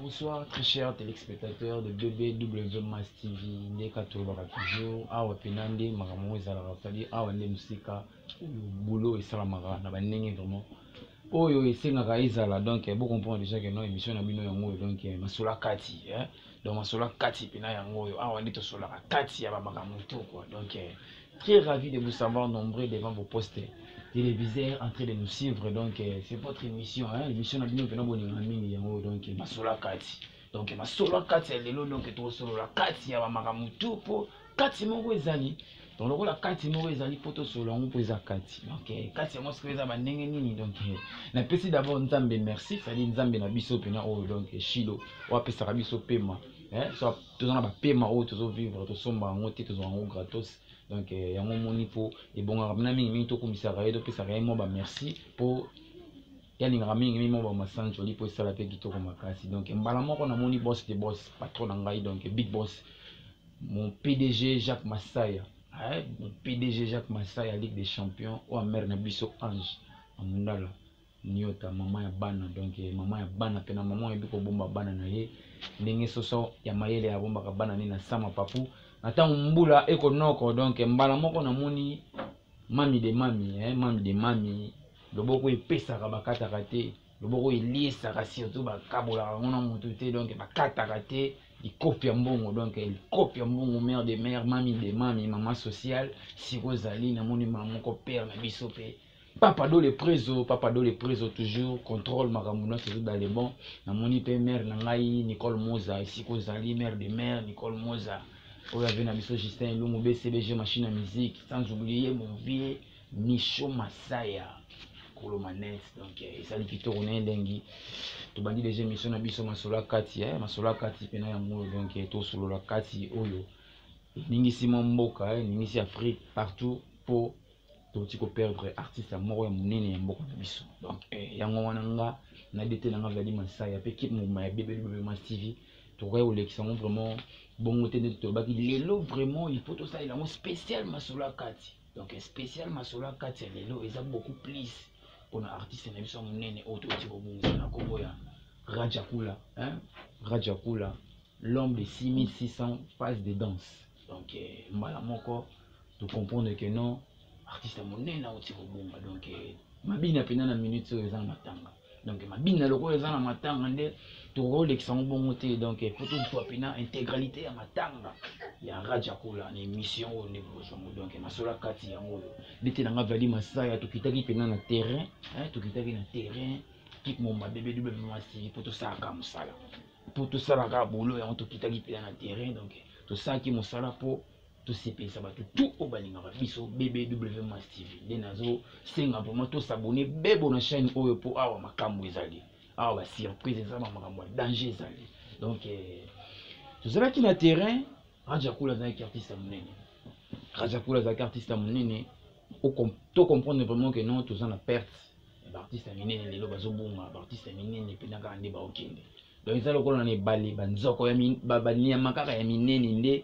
Bonsoir très chers téléspectateurs de BBW Mass TV ndeka tolobaka toujours awa mpena nde makambo yango ezalaka tadi awa nde mosika boulot esalamaka na bandenge vraiment oyo esengaka ezala donc bo comprendre déjà que non émission na bino yango oyo donc eh, masolo ya kati eh? donc masolo ya kati mpena yango oyo awa nde tosolaka kati ya bamakambo to quoi donc eh, très ravi de vous savoir nombreux devant vos postes téléviseurs en train de nous suivre donc eh, c'est votre émission hein? émission na bino mpena bolinga mingi yango oyo donc eh, masolo ya kati donc masolo kati ya lelo donc tokosolola kati ya bamakambo tu mpo kati moko ezali donc lokola kati moko ezali mpo tosolola yango mpo eza kati donc eh, kati yango sikoyo eza bandenge nini donc eh, napesi d'abord nzambe merci cetadi nzambe na biso mpena oyo oh, donc eh, shilo oyo apesaka biso pema so toza na bapema oyo tozovivre tosomba yango te tozwa yango gratos donc yango omoni mpo ebongaka mpena mingimingi tokumisaka ye topesaka ye mwa bamerci mpo ye alingaka mingi mimi ba masanjoli mpo esala mpe kitoko makasi donc mbala moko namoni boss de boss patron na ngai donc big boss mon pdg jacques masaya eh, mon pdg jacques masaya ligue des champions oyo amere na biso ange amundala niota mama ya bana donc eh, mama ya bana mpe na mama oyebi kobomba bana na ye ndenge soso ya mayele abombaka bana ne na sama papu na ntango mbula ekonoko donc mbala moko namoni mami de mami eh, mami de mami loboko epesaka bakataka te loboko eliesaka surtout bakabolaka yango na motu te donc bakataka te likopi ya mbongo donc likopi ya mbongo mare de mare mami de mami mama sociale siko ozali namoni ma moko pere na biso mpe papa do le prezo papa do le prezo toujours contrôle makambo nyonso ezo dale bon namoni mpe mare na ngai nicole moza esika ozali mare de mare nicole moza oyo ave na biso justin elungu bcbg machine ya musique sans oublier mon vieux Micho Masaya kolo manette donc eh, esali kitoko na elengi tobandi deja émission na biso masolo ya kati eh, masolo ya kati mpena ya moyo donc eh, tosolola kati oyo eningisi mwa mboka eningisi afrique partout mpo toti koperdre artiste moko ya monene ya mboka na biso donc yango wana nga na dete na nga vladi masaya mpe kipe mobima ya bebelibebe mas tv tokokaki kolekisa yango vraiment bongo te ndeti tolobaki lelo vraiment il faut tosalela yango spécial masolo ya kati donc spécial masolo ya kati ya lelo eza beaucoup plus mpona artiste na biso ya monene oyo touti kobongisa na nkombo ya rajakula hein? rajakula l'homme de 6600 passe de danse donc eh, mbala moko tocomprendre que non artiste ya monene auti kobonga donc eh, mabina mpenza na minute oyo eza na matanga donc mabina lokola eza na matanga nde tokolekisa yango bongo te donc po tozwa mpena intégralité ya matanga ya raja kola na émission oyo nde bokozwa yango donc masolo kati yango oyo ndete na nga vali masaya tokitaki mpena na terrain tokitaki na terrain kik momba bebe dube mwasi po tosalaka mosala po tosalaka bolo yango tokitaki mpena na terrain donc tosalaki mosala po tosepelisa bato tu oyo balingaka biso bbw mas tv nde nazosenga vraimen tosabone bebo na chaîne oyo mpo awa makambo ezali awa basurprise eza na makambo ya danger ezali donc eh, tozalaki na terrain rajakula azalaki artiste ya monene rajakula azalaki artiste ya monene to comprendre vraiment que non toza na perte baartiste ya minene lelo bazobunga baartiste ya minene mpena kaka nde baokende donc eza lokola na ebale banzoko banyama kaka ya minene nde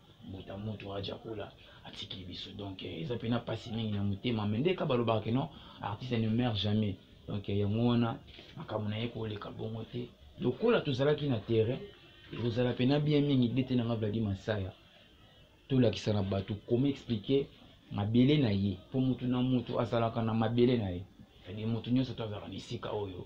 mbuta mutu aja kola atiki biso donc eh, eza mpena mpasi mingi na motema me ndeka balobaka keno artiste ne meurt jamais donc eh, yango wana makambo na ye koleka bongo te lokola tozalaki na terrain ekozala mpena bien mingi bete nanga vladi masaya tolakisa na bato koma explike mabele na ye mpo motu na motu azalaka na mabele na ye cestadire motu nyonso to azalaka na esika oyo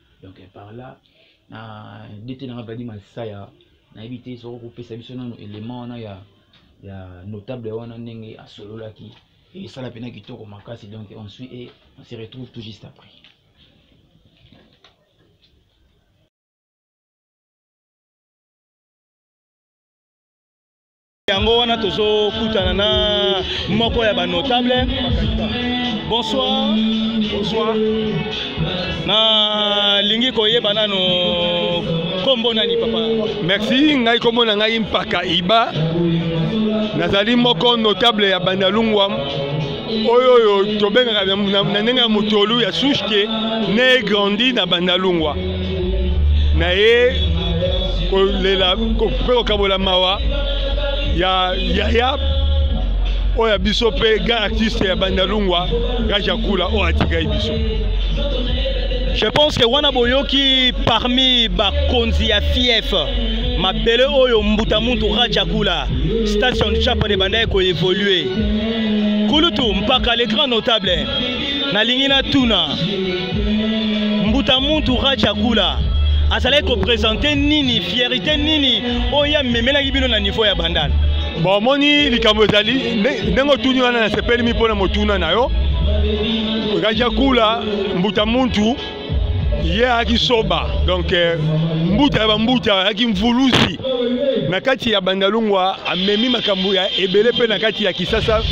donc par là na ndete nanga vadi masaya nayebi te soko kopesa biso nano élément wana ya ya notable wana ndenge asololaki esala mpena kitoko makasi donc on suit et on se retrouve tout juste après yango wana tozokutana na moko ya banotable bonsoir bonsoir nalingi koyeba nano nkombo nani papa merci ngai nkombo na ngai mpaka iba nazali moko notable ya bandalungwa oyo oyo tobengaka na ndenge ya motolu ya sushke ne grandi na bandalungwa na ye kolela mpe kokabola mawa ya yaya oyo ya biso mpe grand artiste ya bandalungwa gajakula oyo atikai biso je pense que wana boyoki parmi bakonzi ya fief mabele oyo mbuta muntu rajakula station chapane ebandaki koevolue kulutu mpaka le grand notable nalingi natuna mbuta muntu raja kula azalaki kopresente nini fierité nini oyo amemelaki bino na niveau ya bandal bon omoni likambo ezali ndenge otuni wana nasepeli mi mpo na motuna na yo raja kula mbuta muntu ye ayaki soba donc eh, mbuta ya bambuta ayaki mvuluzi na kati ya bandalungwa amemi makambo ya ebele mpe na kati ya kisasa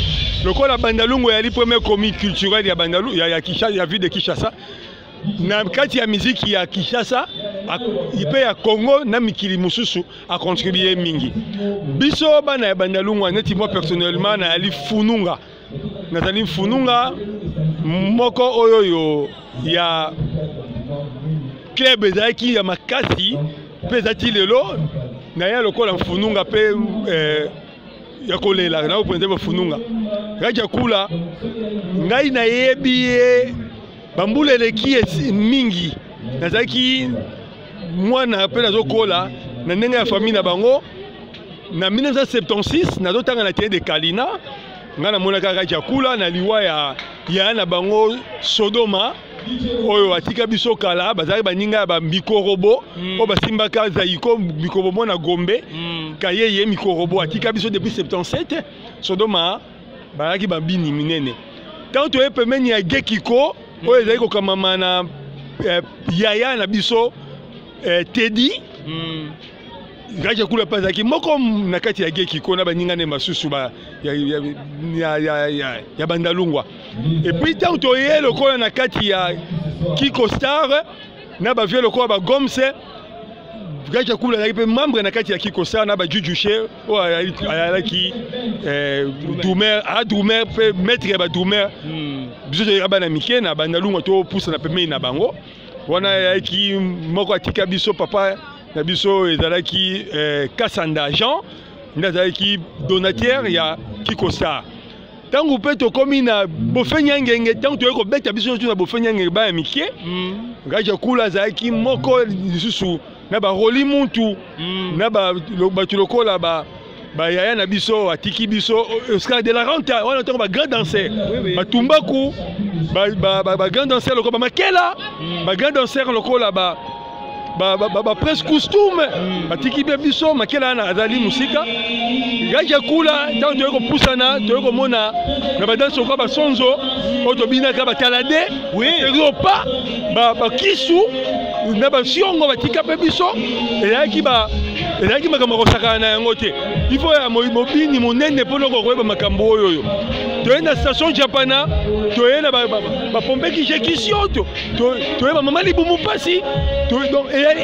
lokola bandalungwa yali premier comi culturel ya, bandalu, ya, ya, Kisha, ya ville de kinshasa na kati ya miziki ya kinshasa mpe ya congo na mikili mosusu acontribue mingi biso bana ya bandalungwa neti moi personnellement nayali fununga nazali mfununga moko oyo oyo ya club ezalaki ya makasi mpe ezalaki lelo naye lokola mfununga mpe eh, ya kolela na openza bafununga kaki akula ngai nayebi ye bambula eleki mingi nazalaki mwana mpe nazokola na ndenge ya famille na bango na 1976 nazotanga na tene de kalina ngai namonaka kaka kiakula na liwa ya yaya na bango sodoma oyo atika biso kala bazalaki baninga ya bamikorobo mm. oyo basimbaka zaiko mikorobo mwana gombe mm. kayeye mikorobo atika biso depuis 77 sodoma bazalaki babini minene ntango toye pembeni ya gekiko mm. oyo ezali kokamama na eh, yaya na biso eh, tedi mm. ngaje kula mpe azalaki moko na kati ya gekiko na baninga ne basusu ba, ya, ya, ya, ya, ya, ya bandalungwa epuis ntango toye lokola na kati ya kiko star na bavie lokola bagomse gaja kula azalaki mpe membre na kati ya kiko star na bajujushe oyo ayalaki eh, dumer adumer ah, mpe maître ya badumer hmm. biso toyaka bana mike na bandalungwa topusana pembeni na bango wana ayaki moko atika biso papa na biso ezalaki eh, kasanda jean nde azalaki donateur ya kikosa ntango mpe tokomi na bofenyangenge ntango toyei kobeta biso nyonso na bofenyangenge baya mike mm. ngaji akula azalaki moko lisusu na baroli muntu mm. na bato lokola ba ba yaya na biso atiki biso oscar de la renta wana ntango ba grand danser batumbaku ba grand danser lokola bamakela hmm. ba grand danser lokola ba bapresse costume hmm. batiki mpe biso makela wana azali mosika yaki akula ntango toyei kopusana toyei komona na badansi lokola basonzo oyo tobinaka batalade oui. ezo pa bakisu na basiongo batika mpe biso ezalaki ba ezalaki makambo akosakana na yango te ifo ya mobini monene mpo noko koyeba makambo oyo oyo toye na station japana toye na bapompe kije kisioto toye bamama libumu mpasi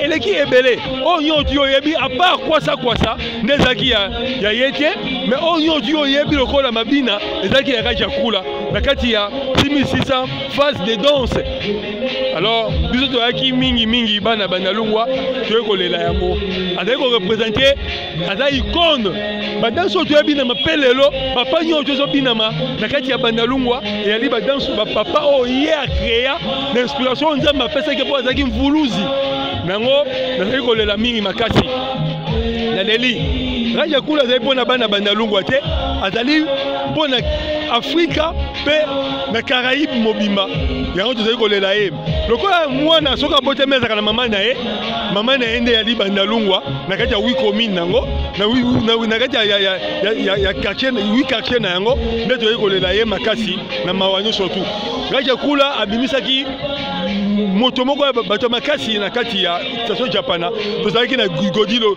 eleki ebele oyo nyonso yo oyebi apart kwasa kwasa nde ezalaki ya ye te mais oyo nyonso yo oyebi lokola mabina ezalaki ya kajakula na kati ya primi 600 phase de danse alors biso toyaki mingi mingi bana bandalungwa toyei kolela yango azali korepresente aza icone badanse oyo toyebi na mapelelo papa nyonso tozobinama na kati ya bandalungwa eyali badanse bapapa oyo ye akrea na inspiration oyo nzambe apesaki mpo azalaki mvuluzi na yango nazali kolela mingi makasi naleli raja kula azali mpo na bana bandalungwa te azali mpo na afrika mpe na caraïbe mobimba yango tozali kolela ye lokola mwana soki abotami azalaka na mama na ye mama na ye nde yali bandalungwa na kati ya wi commune yango na kati ya quartier wi quartier na yango nde tozali kolela ye makasi na mawa nyonso tu gaki ekula abimisaki moto moko ya bato ya makasi na kati ya station japana tozalaki na godilo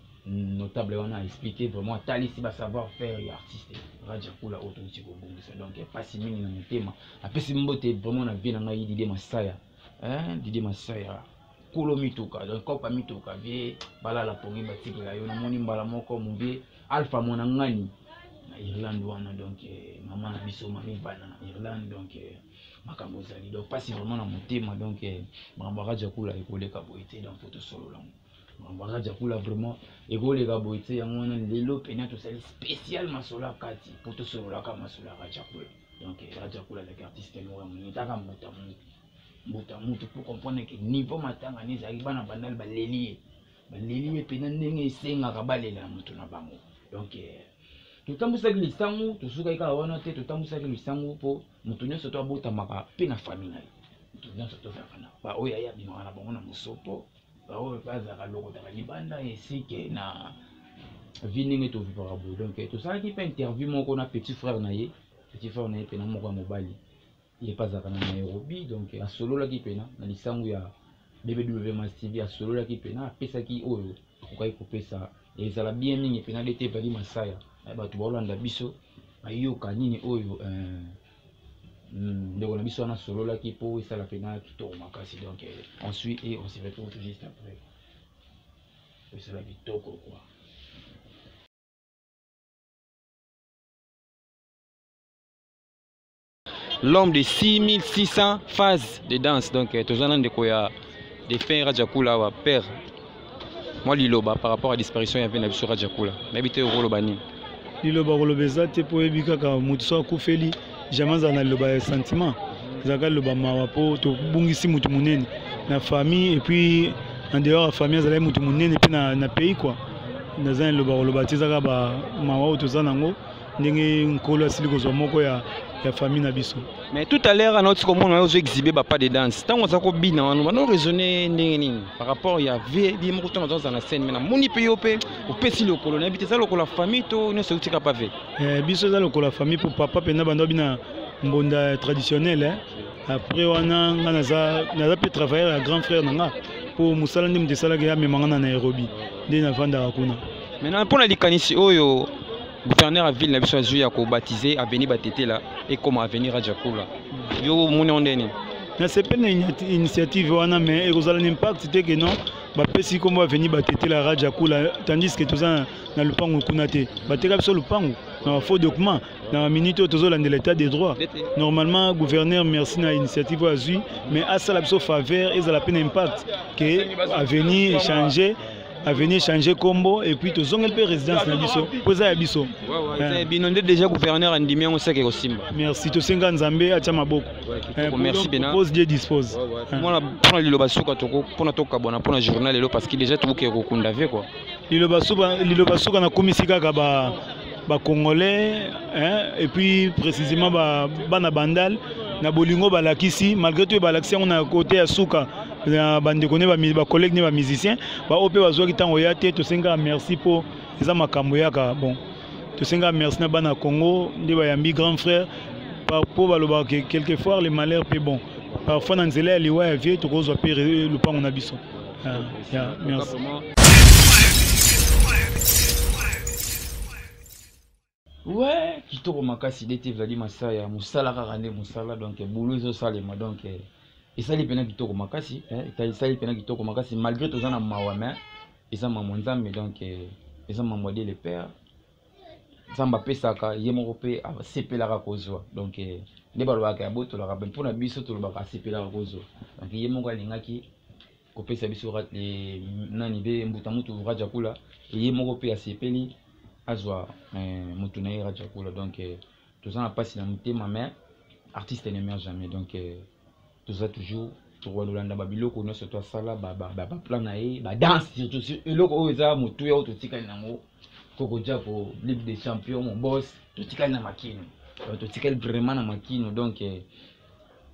notable wana a expliqué vraiment atalisi ba savoir faire ya artiste raja kula oyo touti kobongisa donc mpasi mingi na motema apesi mbote vraiment na vie na ngai dide masaya dide masaya kolo mituka donc kopa mituka vie balala pongi batikela yo namoni mbala moko mobie alpha mwana ngani na irlande wana donc eh, mama na biso mami bana na irlande donc eh, makambo ezali donc mpasi vraiment na motema donc eh, makambo ya raja kula ekoleka boye te donc fo tosolola yango mambo wana jakula vraiment ekoleka boye te yango wana lelo mpena tosali spécial masolo ya kati mpo tosololaka masolo ya rajakula donc rajakula ezalaki artiste moko ya monene taka mbuta mutu mbuta mutu mpo comprendre ke niveau matanga ne ezalaki bana bandali baleli ye baleli ye mpena ndenge esengaka balela moto na bango donc euh, totambwisaki lisangu tosukaki kaka wana te totambwisaki lisangu mpo moto nyonso to abotamaka mpe na famille na ye moto nyonso tozalaka na baoyo aye abimaka na bango na mosopo baoyo mpe azalaka lokotaka libanda esike na vi ndenge tovivaka boye donc tosalaki mpe interview moko na petit frère na ye petit frère na ye mpena moko ya mobali ye mpe azalaka na nairobi donc asololaki mpena na lisangu ya bbw mastv asololaki mpena apesaki oyo akokaki kopesa ezala bien mingi mpena dete vali masaya bato baolanda biso bayoka nini oyo euh, Hmm, ndeko na biso wana sololaki mpo esala mpena kitoko makasi donc eh, on suit et on se retrouve tout juste après esala kitoko quoi l'homme de 6600 phases de danse donc eh, toza na ndeko ya de fin rajakula awa père mwa liloba par rapport à disparition ya mpe na biso rajakula nayebi te okoloba nini liloba koloba eza te mpo oyebi kaka moto so akufeli jamais azala na liloba ya sentiment ezalaka liloba mawa mpo tobungisi moto monene na famille epuis en dehors ya famille azalaki moto monene mpe na, na pays kua naza na liloba koloba te ezaka bamawa oyo toza nango ndenge nkolo asili kozwa moko ya, ya famille na biso mais tout à l'heure anauti komona yo ozo exhibe bapas de danse ntango aza kobina wana bano raisonne ndenge nini par rapport ya vie ye moko ntango azoza na scène mai namoni mpe yo mpe opesi lokolo nayebi te eza lokola famille to nyonso euti kapa ve eh, biso eza lokola famille mpo papa mpenza bando abina mbonda traditionnel eh? après wana nga naza mpe travailleur ya grand frère na nga mpo mosala nde moto esalaki amema nga na nairobi nde nafandaka kuna maintenant mpo na likanisi oyo gouverneur ya ville na biso azwi ya kobatize avenue batetela ekoma avenue rajakula yo omoni yango ndeni nasepeli na initiative wana mais ekozala na impact te ke non bapesi nkombo avenue batetela raja kula tandis ke toza na lupangu kuna te bateka biso lupangu na bafaux document na baminute oyo tozolandela état de droit normalement gouverneur merci na initiative oyo azwi mais asala biso faveur ezala mpe na impact ke avenue echange avenir changer combo et puis tozongeli mpe résidence na biso mpo eza ya biso eh. bino nde déjà gouverneur andimi yango seke kosimba merci tosenga nzambe atya maboko eh, merci pena pose die dispose eh. mwana mpona liloba suka toko mpona tokabwana mpona journal lelo parce que déjà tokokee kokunda ve quoi liloba suka nakumisi kaka ba ba congolais hein, et puis précisément ba bana bandal na bolingo balakisi malgré tout balakisi yango na côté ya suka na bandeko ne ba collègue ne ba musicien ba ope bazwaki ntango ya te tosengaka merci mpo eza makambo yaka bon tosengaka merci na bana congo nde bayambi grand frère mpo balobaka ke quelquefois le malheur mpe bon parfois na nzela ya liwa ya vie tokozwa mpe lopango na biso Ah, yeah, merci. Ouais, kitoko makasi dete ezali masaya mosala kaka nde mosala donc boulot ezosalema donc eh, esali mpena kitoko makasi eh, eka- esali mpena kitoko makasi malgré toza na mawa mais eza mambo ya nzambe donc eh, eza mambo ya de le père nzambe apesaka ye moko mpe asepelaka kozwa donc eh, nde balobaka ya botolaka mpe mpo na biso tolobaka asepelaka kozwa donc ye moko alingaki kopesa biso eh, nani be mbuta mutu rajakula ye moko mpe asepeli azwa eh, mutu na ye rajakula donc toza na mpasi na motema mais artiste ne meurt jamais donc toza toujours tokolanda babiloko nyonso to asala baplan na ye badanse surtout eloko oyo eza motuya oyo totikali nango kokoja ko ligue des champion mobos totikali na makino totikali vraiment na makino donc eh,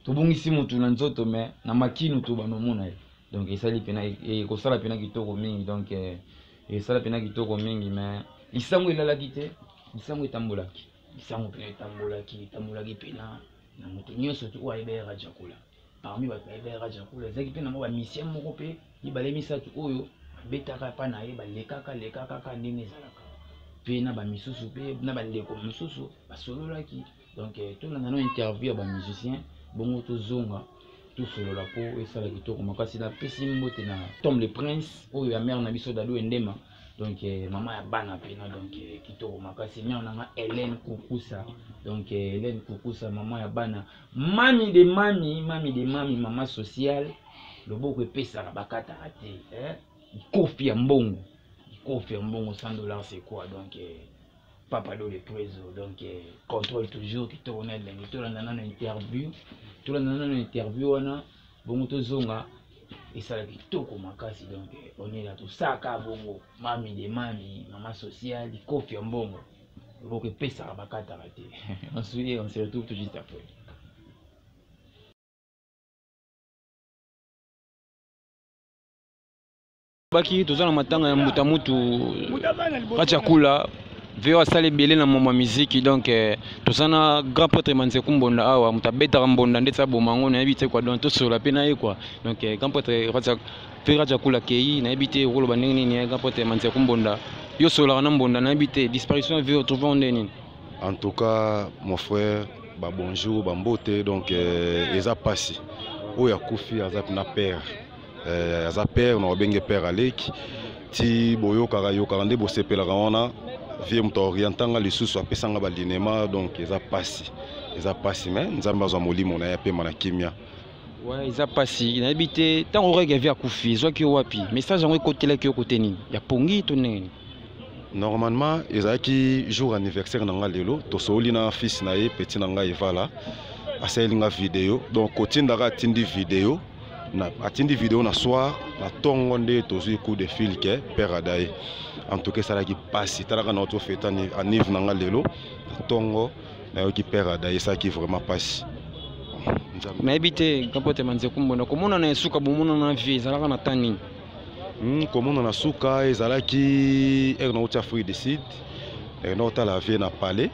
tobungisi motu na nzoto me na makino tobanda omona ye donc esali mpena e, e, ekosala mpena kitoko mingi donc eh, esala mpena kitoko mingi me lisango elalaki te lisango etambolaki lisango mpena etambolaki etambolaki mpena na moto nyonso te oyo ayebi yaya rajakula parmi bato bayebi yaya rajakula ezalaki mpe na mwa bamisien moko mpe mibale misato oyo babetaka epai na ye balekaka lekakaka ndenge ezalaka mpe na bamisusu mpe na bandeko mosusu basololaki donc eh, tolanda no interview ya bamusicien bongo tozonga tosolola mpo esala kitoko makasi napesi mbote na tom le prince oyo ya mare na biso dado endema donc euh, mama ya bana mpena donc euh, kitoko makasi niao nanga helene kukusa donc euh, helene kukusa mama ya bana mami de mami mami de mami mama sociale loboko epesaka bakataka te eh? kofi ya mbongo kofi ya mbongo 100 dollars c'est quoi donc eh, papa do le preso donc eh, contrôle toujours kitoko na elengi tolanda nano interview tolanda nano interview wana bongo tozonga esala kitoko makasi donc onela tosaka bongo mami de mami mama social kofi ya mbongo loboko epesaka bakataka te on se on se retrouve tout juste après baki toza na matanga ya mbuta mutu kati ya kula veo asali ebele na momba miziki donc eh, toza na grand prêtre manzeku mbonda awa moto abetaka mbonda ndeti aboma yango nayebi te kua donc tosolola mpe na ye kua donc eh, grand prêtre mpe raja kula kei nayebi te okoloba ndenge nini eh, grand prêtre manzeku mbonda yo osololaka na mbonda nayebi te disparition ya veo trouve nde nini en tout cas mon frère babonjour bambote donc eza mpasi oyo akufi aza na père eh, aza père na obenge père aleki ti boyokaka yokaka nde bosepelaka wana vie moto aorientanga lisusu apesanga balinema donc eza mpasi eza mpasi me nzambe azwa molimo na ye apema na kimia ouais, eza mpasi nayebi te ntango orege avi akufi ezwaki yo wapi message yango ekotelaki yo kote nini ya pongi to ndenge nini normalement ezalaki jour anniversaire na ngai lelo tosololi na fils na ye petit na ngai evala asaleli ngai video donc kotindaka atindi video na atindi video na soir na tongo nde tozwi coup de fil ke père adaye en tout cas esalaki mpasi talaka na oto fete anive na nga lelo na tongo nayoki père adaye esalaki vraiment mpasi nayebi te kapote manzekumbo na komonana ya suka bomonana na vie ezalaka na temps nini hmm, komonana suka ezalaki ere nauti afrique du sud ere naotala vie na palais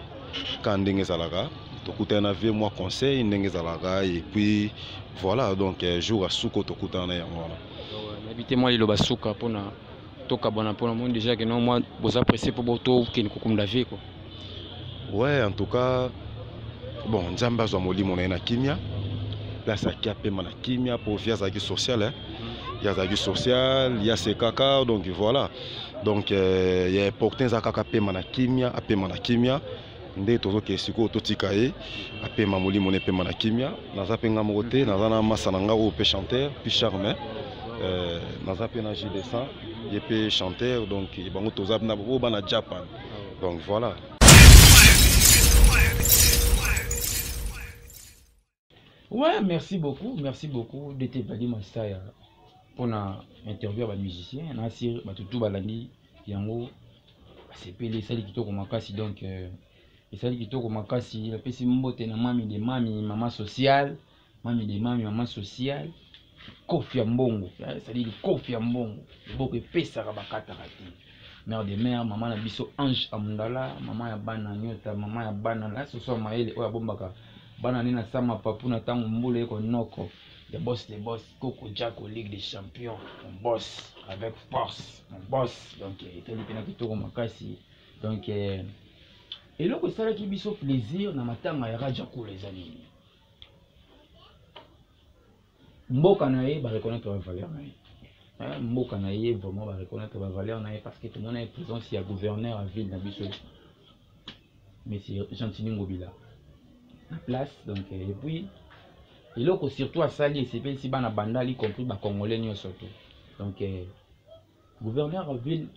ka ndenge ezalaka tokutana na vie mwa conseil ndenge ezalaka et puis voilà donc euh, jour ya suka tokutana na yango wana nayebi te mwa liloba suka mpona tokabwana mpona moni déjà ke no mwa boza presse mpo tokende kokumda vie ko ouais en tout cas bon nzambe azwa molimo na ye na kimia mpe azalaki apema na kimia mpo vie azalaki sociale ye azalaki sociale ye asekaka donc voilà donc euh, ya importin eza kaka apema na kimia apema na kimia nde tozokee sikoyo totika ye apema molimo na epema na kimia naza mpe nga moko te naza na masa na nga oyo mpe chanteur puis charme euh, naza mpe na jdescent ye mpe chanteur donc bango toza na oyo bana japan donc voilà Ouais, merci beaucoup, merci beaucoup DT Badi Masaya pour na interview ba musiciens na sir ba tutu balandi yango basepeli esali kitoko makasi donc euh, esali kitoko makasi napesi mbote na mami de mami mama sociale mami de mami mama sociale kofi ya mbongo cestadire kofi ya mbongo liboko epesaka bakataka te mare de mare mama na biso ange amundala mama ya bana nyota mama ya bana la soso ya mayele oyo abombaka bana nde na sama papu na ntango mbula eko noko de bos de bos koko jako ligue de champion mon bos avec force mon bos donc etali mpena kitoko makasi donc eh, eloko esalaki biso plaisir na matanga ya rajakula eza nini mboka na ye ba reconnaître ba valeur na ye hein, mboka na ye vraiment ba reconnaître ba valeur na ye parce que tomona ye présence ya gouverneur ya ville na biso monsieur gentini ngobila na place donc euh, et puis eloko surtout asali esepelisi bana bandal y compris bacongolais nyonso te donc eh, gouverneur ya ville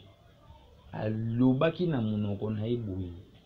alobaki na monoko na ye boye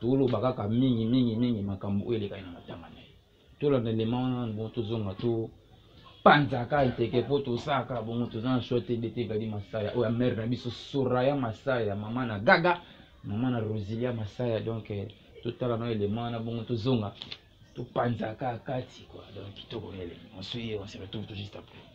toloba kaka mingi mingi mingi makambo oyo elekani na matanga na ye tolanda ndema wana bon tozonga to panzaka nteke mpo tosaka bongo toza na shwa te bete gadi masaya oyo amere na biso soraya masaya mama na gaga mama na rosilia masaya donc eh, totala na elema wana bongo tozonga topanzaka kati kua donc kitoko na elema on se ye on se retrouve tout juste après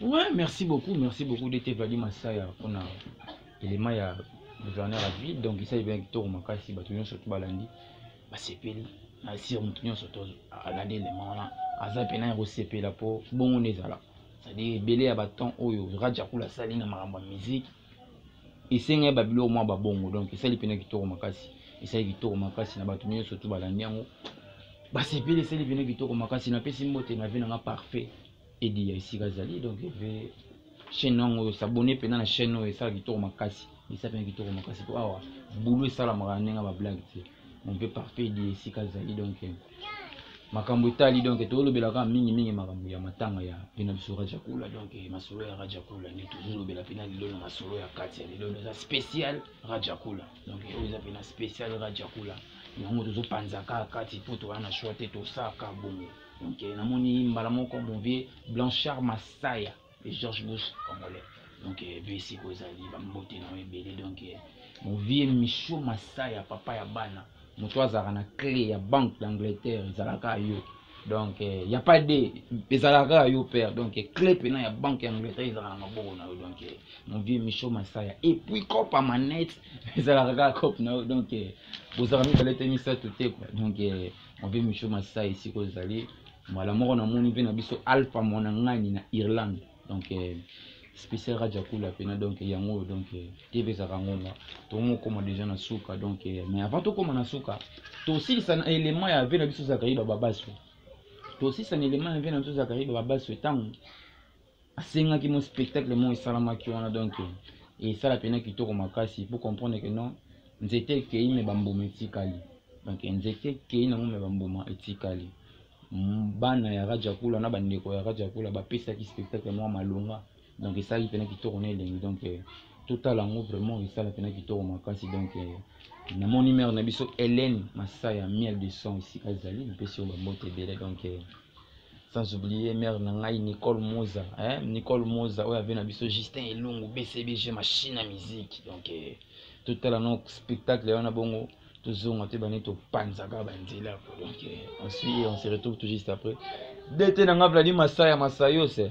Ouais, merci beaucoup, merci beaucoup d'être venu Masaya pour l'élément ya gouverneur ya ville donc esali bien kitoko makasi bato nyonso to balandi basepeli na sire moto nyonso to alandi elema wana aza mpena ya kosepela mpo bongo nde ezala c'est-à-dire ebele ya baton oyo rajakul asali na makambo ya miziki esengai babiloko mwa babongo donc esali mpena kitoko makasi esali kitoko makasi na bato nyonso tu balandi yango basepeli esali mpena kitoko makasi napesi mbote na ve nanga parfait edi ya esika azali donc eve chaîne yango oyo sabone mpena na chaîne oyo esala kitoko makasi misapi na kitoko makasi mpo awa bulu esalamaka na ndenge bablage te on peut parfait di esika ezali donc makambo etali donc tolobelaka mingimingi makambo ya matanga ya mpe na biso rajakula donc masolo ya rajakula nde tozolobela mpe na lelo na masolo ya kati ya lelo eza spécial rajakula donc oyo eza mpe na spécial rajakula yango tozopanzaka kati mpo towana na choix te tosaka bongo donc namoni mbala moko movie blanchard masaya et George Bush congolais donc epe eh, siko ezali bambote na yo ebele donc eh, movie micho masa ya papa ya bana moto azalaka na clé ya banque d'angleterre ezalaka yo donc il eh, n'y a pas de ezalaka yo père donc clé mpena ya banque ya angleterre ezalaka na maboko na yo donc movie micho masaya et puis cope ya manette ezalaka kaka cope na yo donc bozalaka mibale te misato te quoi donc Mabe Micho Masai esika ozali mbala moko namoni mpe na biso Alpha Mwanangani na Irlande donc eh, spécial Raja Kula pena donc yango oyo donc eh, TV ezalaka ngonga tomokoma déjà na suka donc eh, mais avant tokoma na suka tosilisa na élément ya vie na biso Zakariba Babaso tosilisa na élément ya vie na biso Zakariba Babaso ntango asengaki mo spectacle moko esalamaki wana donc esala pena kitoko makasi po comprendre ke non nzete ekei me bambuma etikali donc nzete ekei nango me bambuma etikali bana ya rajakula na bandeko ya rajakula bapesaki spectacle mwa malonga donc esalaki pena kitoko na elengi donc eh, totala yango vraiment esala pena kitoko makasi donc eh, namoni mare na biso helene masaya miel de son esika ezali napesi yo bambote ebele donc eh, sans oublier mère na ngai nicole moza eh? nicole moza oyo ave na biso justin elungu bcbg machine ya musique donc eh, totala no spectacle wana bongo tozonga te bani topanzaka banzela ko donc eh, on suit on se retrouve tout juste après dt na nga vladi masaya masayose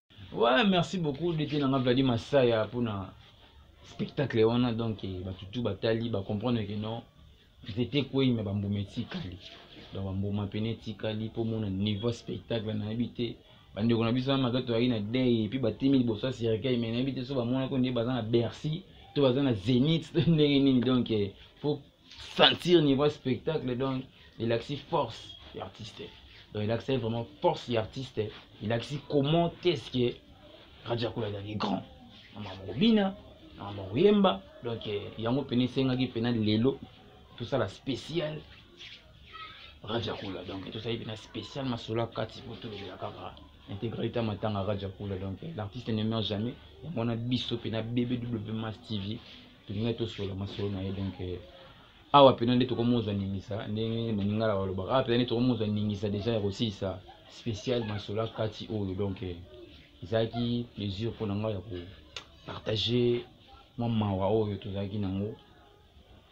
Ouais, merci beaucoup depuis nanga Vladi Masaya pour na spectacle wana donc eh, batu tout batali ba comprendre que non nzete kwei me bambuma etikali donc bambuma pene etikali mpo mona niveau spectacle nayebi te bandeko na biso wana mabe toyaki na dei epuis batimi liboso ya cercueil me nayebi te so bamonaki nde baza na bercy to baza na zenith to ndenge nini donc eh, fo sentir niveau ya spectacle donc elakisi force ya artiste donc elakisaki vraiment force ya artiste elakisi comment est ce que rajakula ezalaki grand na mama kobina na mama koyemba donc eh, yango mpena esengaki mpena lelo tosala spécial rajakula donc tosali mpena spécial masolo akati mpo tolobela kaka intégralité matanga rajakula donc eh, l'artiste ne meurt jamais yango wana biso mpena bbw mas tv tolingai tosola masolo na ye donc eh, awa mpena nde tokomozwa ningisa ndenge baningala balobaka awa mpena nde tokomozwa ningisa deja ya kosilisa spécial masolo akati oyo donc eh, ezalaki plaisir mpo na ngai ya kopartage mwa mawa oyo tozalaki nango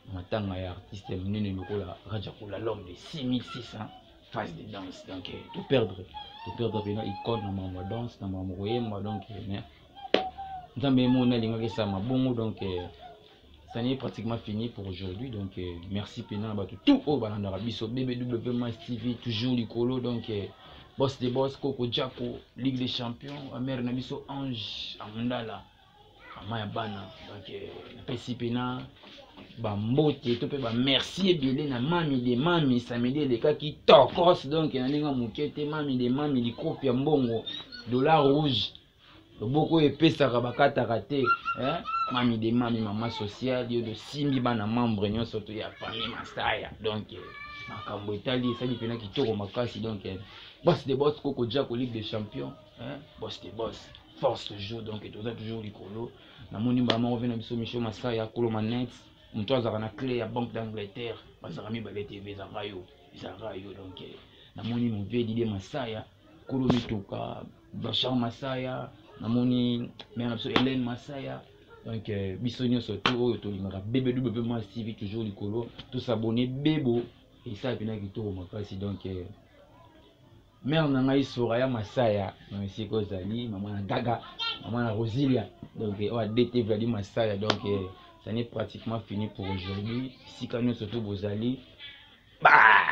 na matanga ya artiste ya monene lokola rajakula l'homme de 6600 phase de danse donc eh, toperdre toperdre mpena icone na makambo ya danse na makambo koyemba donc mais nzambe ye moni alingaki esalama bongo donc euh, ça n'est pratiquement fini pour aujourd'hui donc euh, merci mpena na bato tout oyo balandaka biso bbw mas tv toujours likolo donc euh, boss de boss koko jako ligue des champions amare na biso ange amundala mama ya bana donc napesi mpena bambote to mpe bamerci ebele na mami de mami samedi elekaki tokos donk na ndenge moke te mami de mami likopi ya mbongo dollar rouge loboko oyo epesaka bakataka te eh? mami de mami mama sociale yo tosimbi bana membre nyonso to ya famille masaya donc eh, makambo etali esali mpena kitoko makasi donc eh, bos de bos koko jako ligue de champion eh? bos de bos force toujours donc toza toujours likolo namoni mbala moko mpe na biso micho masaya kolo manete moto azalaka na clé ya banque d'angleterre bazalaka mibale te mpe ezalaka yo ezalaka yo donc eh, namoni mpe dide masaya kolo mituka Bachar Masaya namoni mère na biso Hélène Masaya donc euh, biso nyonso to oyo tolingaka bbw mwa tv toujours likolo tosabone bebo esala mpena kitoko makasi donc euh, mère na ngai soraya masaya na esika ozali mama na gaga mama na rosilia donc euh, oyo adt vladi masaya donc ça n'est pratiquement fini pour aujourd'hui esika nyonso to bozali bye